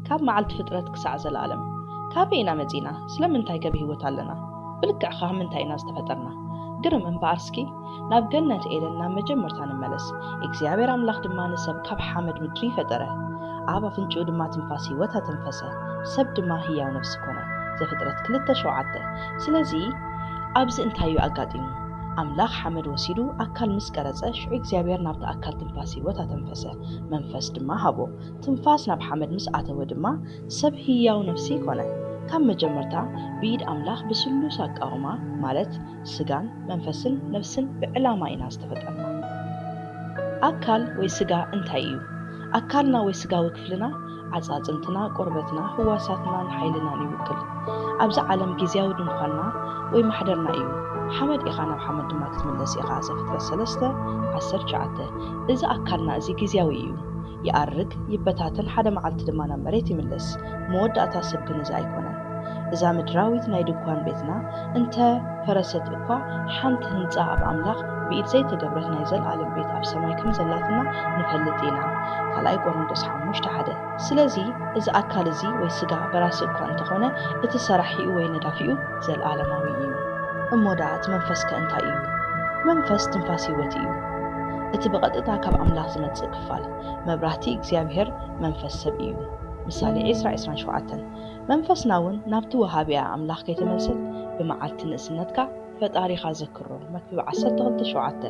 ካብ መዓልቲ ፍጥረት ክሳዕ ዘለኣለም ካበይ ኢና መጺእና ስለምንታይከ ብህይወት ኣለና ብልክዕ ኻብ ምንታይ ኢና ዝተፈጠርና ግርም እምበኣር እስኪ ናብ ገነት ኤደን ናብ መጀመርታ ንመለስ እግዚኣብሔር ኣምላኽ ድማ ንሰብ ካብ ሓመድ ምድሪ ፈጠረ ኣብ ኣፍንጭኡ ድማ ትንፋስ ህይወት ኣተንፈሰ ሰብ ድማ ህያው ነፍሲ ኮነ ዘፍጥረት ክልተ ሸውዓተ ስለዚ ኣብዚ እንታይ እዩ ኣጋጢሙ ኣምላኽ ሓመድ ወሲዱ ኣካል ምስ ቀረጸ፣ ሽዑ እግዚኣብሄር ናብቲ ኣካል ትንፋስ ህይወት ኣተንፈሰ፣ መንፈስ ድማ ሃቦ። ትንፋስ ናብ ሓመድ ምስ ኣተወ ድማ፣ ሰብ ህያው ነፍሲ ኮነ። ካብ መጀመርታ፣ ብኢድ ኣምላኽ ብስሉስ ኣቃውማ፣ ማለት ስጋን መንፈስን ነፍስን ብዕላማ ኢና ዝተፈጠርና። ኣካል ወይ ስጋ እንታይ እዩ? ኣካልና ወይ ስጋዊ ክፍልና፣ ኣጻጽምትና፣ ቆርበትና፣ ህዋሳትናን ሓይልናን ይውክል። ኣብዚ ዓለም ግዝያዊ ድንኳንና ወይ ማሕደርና ኢዩ። ሓመድ ኢኻ ናብ ሓመድ ድማ ክትምለስ ኢኻ ዘፍጥረት ሰለስተ ዓሰርተ ትሽዓተ። እዚ ኣካልና እዚ ግዝያዊ ኢዩ። ይኣርግ፣ ይበታተን ሓደ መዓልቲ ድማ ናብ መሬት ይምለስ። መወዳእታ ሰብ ግን እዚ ኣይኮነን። እዛ ምድራዊት ናይ ድኳን ቤትና እንተ ፈረሰት እኳ፣ ሓንቲ ህንጻ ኣብ ኣምላኽ ብኢድ ዘይተገብረት ናይ ዘለኣለም ቤት ኣብ ሰማይ ከም ዘላትና ንፈልጥ ኢና። ካልኣይ ቆሮንቶስ ሓሙሽተ ሓደ። ስለዚ፣ እዚ ኣካል እዚ ወይ ስጋ በራሲ እኳ እንተ ዀነ፣ እቲ ሰራሒኡ ወይ ነዳፊኡ ዘለኣለማዊ ኢዩ። እሞ ደኣ እቲ መንፈስከ እንታይ ኢዩ? መንፈስ ትንፋስ ህይወት ኢዩ። እቲ ብቐጥታ ካብ ኣምላኽ ዝመጽእ ክፋል መብራህቲ እግዚኣብሄር መንፈስ ሰብ ኢዩ። ምሳሌ ዕስራ ዕስራን ሸውዓተን። መንፈስና ውን ናብቲ ወሃቢኣ ኣምላኽ ከይተመልሰት ብመዓልቲ ንእስነትካ ፈጣሪኻ ዘክሮ መክብብ ዓሰርተ ክልተ ሸውዓተ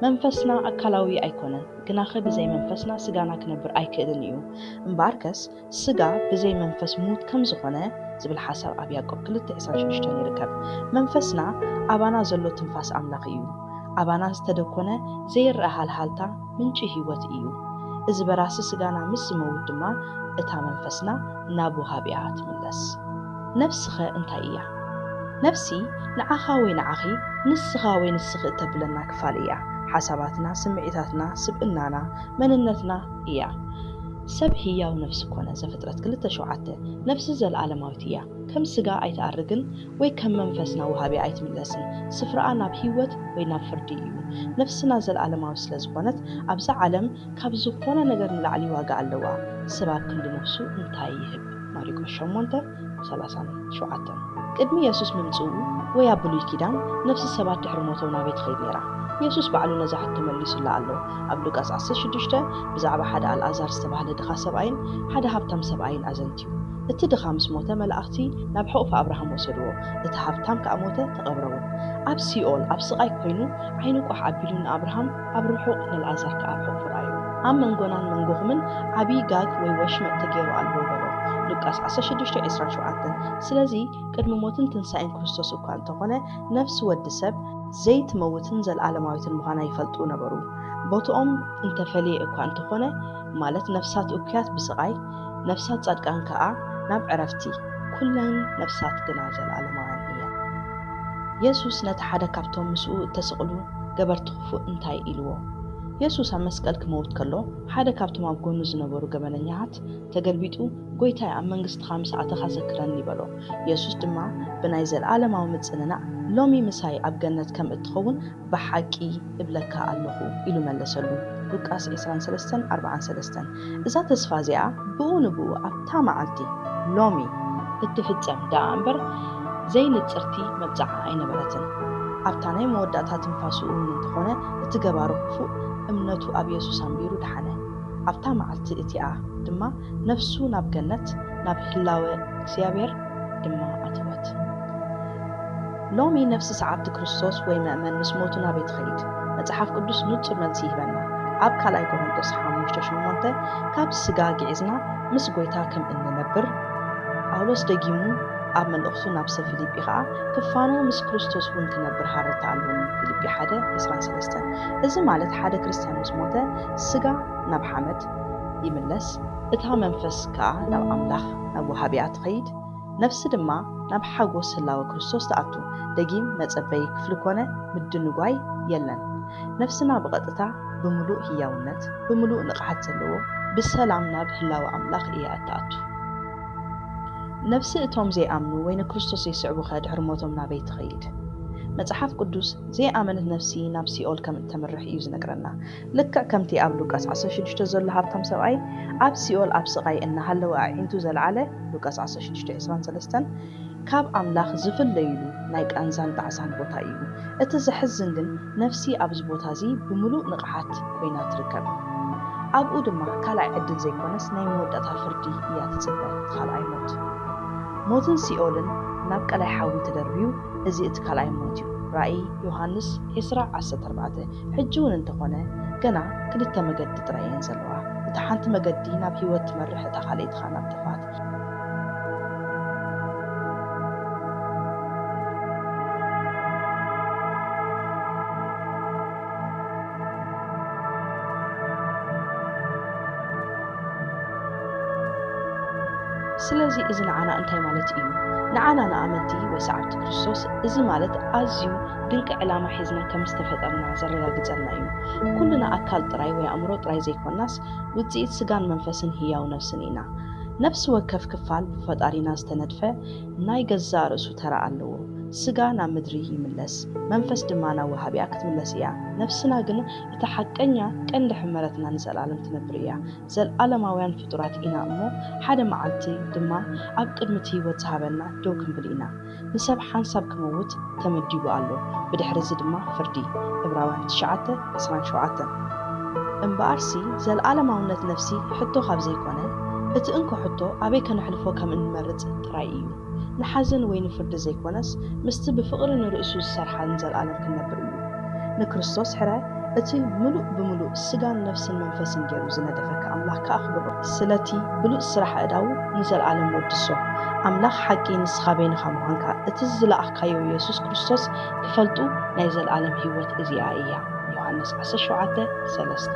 መንፈስና ኣካላዊ ኣይኮነን ግናኸ ብዘይ መንፈስና ስጋና ክነብር ኣይክእልን ኢዩ እምበኣርከስ ስጋ ብዘይ መንፈስ ምዉት ከምዝኾነ ዝብል ሓሳብ ኣብ ያእቆብ ክልተ ዕስራን ሽዱሽተን ይርከብ መንፈስና ኣባና ዘሎ ትንፋስ ኣምላኽ ኢዩ ኣባና ዝተደኮነ ዘይረኣ ሃልሃልታ ምንጪ ህይወት እዩ። እዚ በራሲ ስጋና ምስ ዝመውት ድማ እታ መንፈስና ናብ ወሃቢኣ ትምለስ። ነፍሲኸ እንታይ እያ? ነፍሲ ንዓኻ ወይ ንዓኺ፣ ንስኻ ወይ ንስኺ እተብለና ክፋል እያ። ሓሳባትና፣ ስምዒታትና፣ ስብእናና፣ መንነትና እያ። ሰብ ህያው ነፍሲ ኰነ ዘፍጥረት ክልተ ሸውዓተ፣ ነፍሲ ዘለኣለማዊት እያ፣ ከም ስጋ ኣይትኣርግን፣ ወይ ከም መንፈስና ወሃቢኣ ኣይትምለስን። ስፍራኣ ናብ ህይወት ወይ ናብ ፍርዲ እዩ። ነፍስና ዘልኣለማዊት ስለ ዝኾነት ኣብዛ ዓለም ካብ ዝኾነ ነገር ንላዕሊ ዋጋ ኣለዋ። ሰብ ኣብ ክንዲ ነፍሱ እንታይ ይህብ? ማሪቆስ ሸሞንተ ሰላሳን ሸውዓተን። ቅድሚ የሱስ ምምጽኡ ወይ ኣብ ብሉይ ኪዳን ነፍሲ ሰባት ድሕሪ ሞቶም ናበይ ትኸይድ ነይራ? የሱስ ባዕሉ ነዛ ሕቶ መሊሱላ ኣሎ። ኣብ ሉቃስ ዓሰርተ ሽዱሽተ ብዛዕባ ሓደ ኣልኣዛር ዝተባህለ ድኻ ሰብኣይን ሓደ ሃብታም ሰብኣይን ኣዘንቲ። ማለት እዩ። እቲ ድኻ ምስ ሞተ መላእኽቲ ናብ ሕቑፊ ኣብርሃም ወሰድዎ፣ እቲ ሃብታም ከኣ ሞተ ተቐብረውን። ኣብ ሲኦል ኣብ ስቓይ ኮይኑ ዓይኑ ቋሕ ኣቢሉ ንኣብርሃም ኣብ ርሑቕ ነልኣዛር ከኣ ኣብ ሕቑፉ ረኣዮ። ኣብ መንጎናን መንጎኹምን ዓቢይ ጋግ ወይ ወሽመጥ ተገይሩ ኣሎ በሎ፣ ሉቃስ ዓሰርተ ሽዱሽተ ዕስራን ሸውዓተን። ስለዚ ቅድሚ ሞትን ትንሳኤን ክርስቶስ እኳ እንተኾነ ነፍሲ ወዲ ሰብ፣ ዘይትመውትን ዘልኣለማዊትን ምዃና ይፈልጡ ነበሩ፣ ቦትኦም እንተፈለየ እኳ እንተኾነ፣ ማለት ነፍሳት እኩያት ብስቓይ፣ ነፍሳት ጻድቃን ከኣ ናብ ዕረፍቲ፣ ኵለን ነፍሳት ግና ዘለኣለማውያን እየን። የሱስ ነቲ ሓደ ካብቶም ምስኡ እተሰቕሉ ገበርቲ ኽፉእ እንታይ ኢልዎ? የሱስ ኣብ መስቀል ኪመውት ከሎ፣ ሓደ ካብቶም ኣብ ጐኑ ዝነበሩ ገበነኛታት ተገልቢጡ፣ ጐይታይ፣ ኣብ መንግስትኻ ምስ ኣተኻ ዘክረኒ በሎ። የሱስ ድማ ብናይ ዘለኣለማዊ ምጽንናዕ፣ ሎሚ ምሳይ ኣብ ገነት ከም እትኸውን ብሓቂ እብለካ ኣሎኹ ኢሉ መለሰሉ። ሉቃስ ዕስራን ሰለስተን ኣርብዓን ሰለስተን፣ እዛ ተስፋ እዚኣ ብኡ ንብኡ ኣብታ መዓልቲ፣ ሎሚ፣ እትፍጸም ደኣ እምበር ዘይንጽርቲ መብጽዓ ኣይነበረትን። ኣብታ ናይ መወዳእታ ትንፋሱ እውን እንተ ዀነ እቲ ገባሪ ኽፉእ እምነቱ ኣብ የሱስ ኣንቢሩ ደሓነ። ኣብታ መዓልቲ እቲኣ ድማ ነፍሱ ናብ ገነት ናብ ህላወ እግዚኣብሄር ድማ ኣተወት። ሎሚ ነፍሲ ሰዓብቲ ክርስቶስ ወይ መእመን ምስ ሞቱ ናበይ ትኸይድ? መጽሓፍ ቅዱስ ንጹር መልሲ ይህበና። ኣብ ካልኣይ ቆሮንቶስ ሓሙሽተ ሸሞንተ ካብዚ ስጋ ግዒዝና ምስ ጐይታ ከም እንነብር፣ ጳውሎስ ደጊሙ ኣብ መልእኽቱ ናብ ሰብ ፊልጲ ኸኣ ክፋኖ ምስ ክርስቶስ እውን ክነብር ሃረርታ ኣሎኒ፣ ፊልጲ ሓደ ዕስራን ሰለስተን። እዚ ማለት ሓደ ክርስትያን ምስ ሞተ ስጋ ናብ ሓመድ ይምለስ፣ እታ መንፈስ ከኣ ናብ ኣምላኽ ናብ ወሃቢኣ ትኸይድ፣ ነፍሲ ድማ ናብ ሓጎስ ህላወ ክርስቶስ ትኣቱ። ደጊም መጸበዪ ክፍሊ ኮነ ምድንጓይ የለን። ነፍስና ብቐጥታ ብምሉእ ህያውነት፣ ብምሉእ ንቕሓት ዘለዎ፣ ብሰላም ናብ ህላወ ኣምላኽ እያ እትኣቱ። ነፍሲ እቶም ዘይኣምኑ ወይ ንክርስቶስ ዘይስዕቡኸ ድሕሪ ሞቶም ናበይ ትኸይድ? መጽሓፍ ቅዱስ፣ ዘይኣመነት ነፍሲ ናብ ሲኦል ከም እተምርሕ እዩ ዝነግረና። ልክዕ ከምቲ ኣብ ሉቃስ ዓሰርተ ሽዱሽተ ዘሎ ሃብታም ሰብኣይ ኣብ ሲኦል ኣብ ስቓይ እናሃለወ ኣዒንቱ ዘልዓለ፣ ሉቃስ ዓሰርተ ሽዱሽተ ዕስራን ሰለስተን፣ ካብ ኣምላኽ ዝፍለዩሉ ናይ ቃንዛን ጣዕሳን ቦታ እዩ። እቲ ዘሕዝን ግን ነፍሲ ኣብዚ ቦታ እዚ ብምሉእ ንቕሓት ኰይና ትርከብ። ኣብኡ ድማ ካልኣይ ዕድል ዘይኰነስ ናይ መወዳእታ ፍርዲ እያ ትጽበ፣ እቲ ካልኣይ ሞት። ሞትን ሲኦልን ናብ ቀላይ ሓዊ ተደርብዩ፣ እዚ እቲ ካልኣይ ሞት እዩ። ራእይ ዮሃንስ ዕስራ ዓሰርተ ኣርባዕተ። ሕጂ ውን እንተኾነ ገና ክልተ መገዲ ጥራይ ኢየን ዘለዋ እታ ሓንቲ መገዲ ናብ ሂወት ትመርሕ እታ ካልኣይቲ ከኣ ናብ ጥፍኣት። ስለዚ እዚ ንዓና እንታይ ማለት ኢዩ? ንዓና ንኣመንቲ ወይ ሰዓብቲ ክርስቶስ እዚ ማለት ኣዝዩ ድንቂ ዕላማ ሒዝና ከም ዝተፈጠርና ዘረጋግጸልና እዩ። ኩልና ኣካል ጥራይ ወይ ኣእምሮ ጥራይ ዘይኮናስ፣ ውጽኢት ስጋን መንፈስን ህያው ነፍስን ኢና። ነፍሲ ወከፍ ክፋል ብፈጣሪና ዝተነድፈ ናይ ገዛእ ርእሱ ተራ ኣለዎ። ስጋ ናብ ምድሪ ይምለስ፣ መንፈስ ድማ ናብ ወሃቢኣ ክትምለስ እያ። ነፍስና ግን እታ ሓቀኛ ቀንዲ ሕመረትና ንዘልኣለም ትነብር እያ። ዘልኣለማውያን ፍጡራት ኢና እሞ ሓደ መዓልቲ ድማ ኣብ ቅድሚ እቲ ህይወት ዝሃበና ደው ክንብል ኢና። ንሰብ ሓንሳብ ክምውት ተመዲቡ ኣሎ ብድሕርዚ ድማ ፍርዲ። ዕብራውያን ትሽዓተ ዕስራን ሸውዓተን። እምበኣርሲ ዘለኣለማውነት ነፍሲ ሕቶ ካብ ዘይኰነ፣ እቲ እንኮ ሕቶ ኣበይ ከነሕልፎ ከም እንመርጽ ጥራይ ኢዩ። ንሓዘን ወይ ንፍርዲ ዘይኰነስ ምስቲ ብፍቕሪ ንርእሱ ዝሰርሓልን ዘለኣለም ክንነብር ኢዩ። ንክርስቶስ ሕረ እቲ ምሉእ ብምሉእ ስጋን ነፍስን መንፈስን ገይሩ ዝነደፈካ ኣምላኽ ከኣ ኣኽብሮ። ስለቲ ብሉጽ ስራሕ ኣእዳዉ ንዘልኣለም ወድሶ። ኣምላኽ ሓቂ ንስኻ በይንኻ ምዃንካ እቲ ዝለኣኽካዮ የሱስ ክርስቶስ ክፈልጡ ናይ ዘልኣለም ህይወት እዚኣ እያ ዮሃንስ ዓሰርተ ሸውዓተ ሰለስተ።